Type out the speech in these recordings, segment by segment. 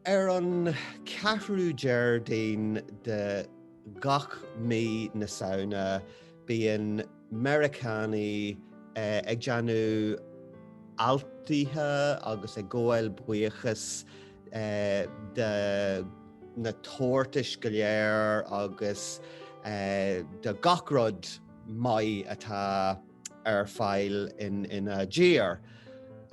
Ar an 4ú Déardaoin de gach mí na Samhna bíonn Meiriceánaigh ag déanamh altaithe agus ag gabháil buíochas do na tabhartais go léir agus do gach rud maith atá. ar fáil ina dtír.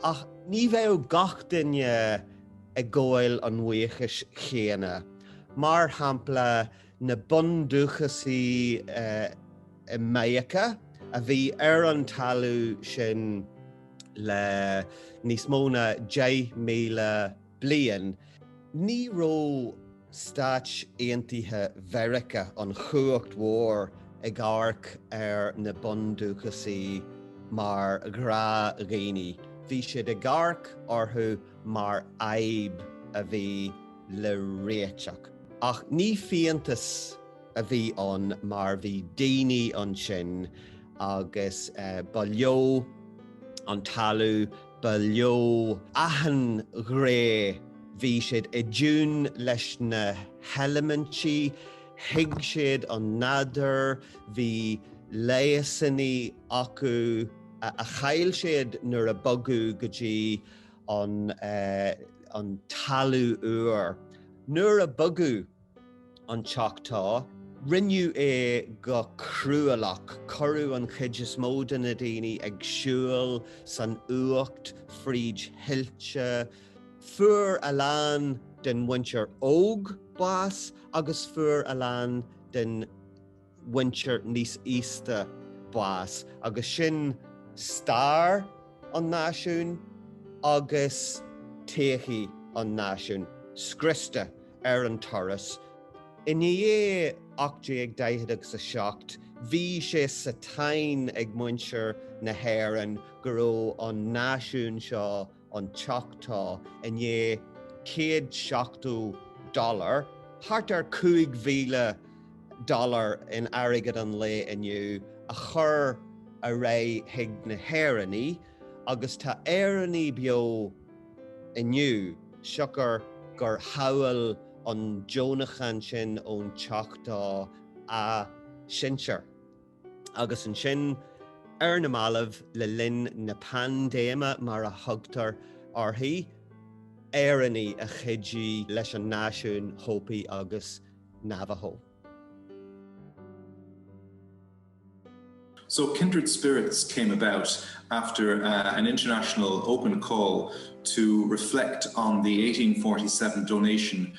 Ach ní bheadh gach duine ag gabháil an bhuíochais chéanna. Mar shampla, na bundúchasaigh i Meiriceá, a bhí ar an talamh sin le níos mó ná 10,000 bliain, ní raibh Stáit Aontaithe Mheiriceá, an chumhacht mhór, ag amharc ar na bundúchasaigh mar ghnáthdhaoine, bhí siad ag amharc orthu mar fhadhb a bhí le réiteach. Ach ní fiántas a bhí ann mar bhí daoine ansin agus ba leo an talamh, Ba leo achan ghné. Bhí siad i dtiún leis na heilimintí, thuig siad an nádúr, bhí leigheasanna acu a chaill siad nuair a bogadh go dtí an talamh úr. Nuair a bogadh. an Choctaw. Rinneadh é go cruálach, cuireadh an chuid is mó de na daoine ag siúl san fhuacht fríd thuilte, fuair a lán den mhuintir óg bás agus fuair a lán den. mhuintir níos aosta bás agus sin stair an náisiúin agus todhchaí an náisiúin scriosta ar an turas. I ndiaidh 1840 agus 7 bhí sé sa tsáinn ag muintir na hÉireann go raibh an náisiún seo, an Choctaw, i ndiaidh céad seachtó dollar, thart ar chúig mhíle dollar in airgead an lae inniu, a chur ar aghaidh chuig na hÉireannaigh agus tá Éireannaigh beo inniu siocair gur shábháil an deonachán sin ón Choctaw a sinsear, agus ansin ar na mallaibh le linn na paindéime mar a thugtar uirthi, Éireannaigh a chuidigh leis an náisiún Hopi agus Navajo. So Kindred Spirits came about after an international open call to reflect on the 1847 donation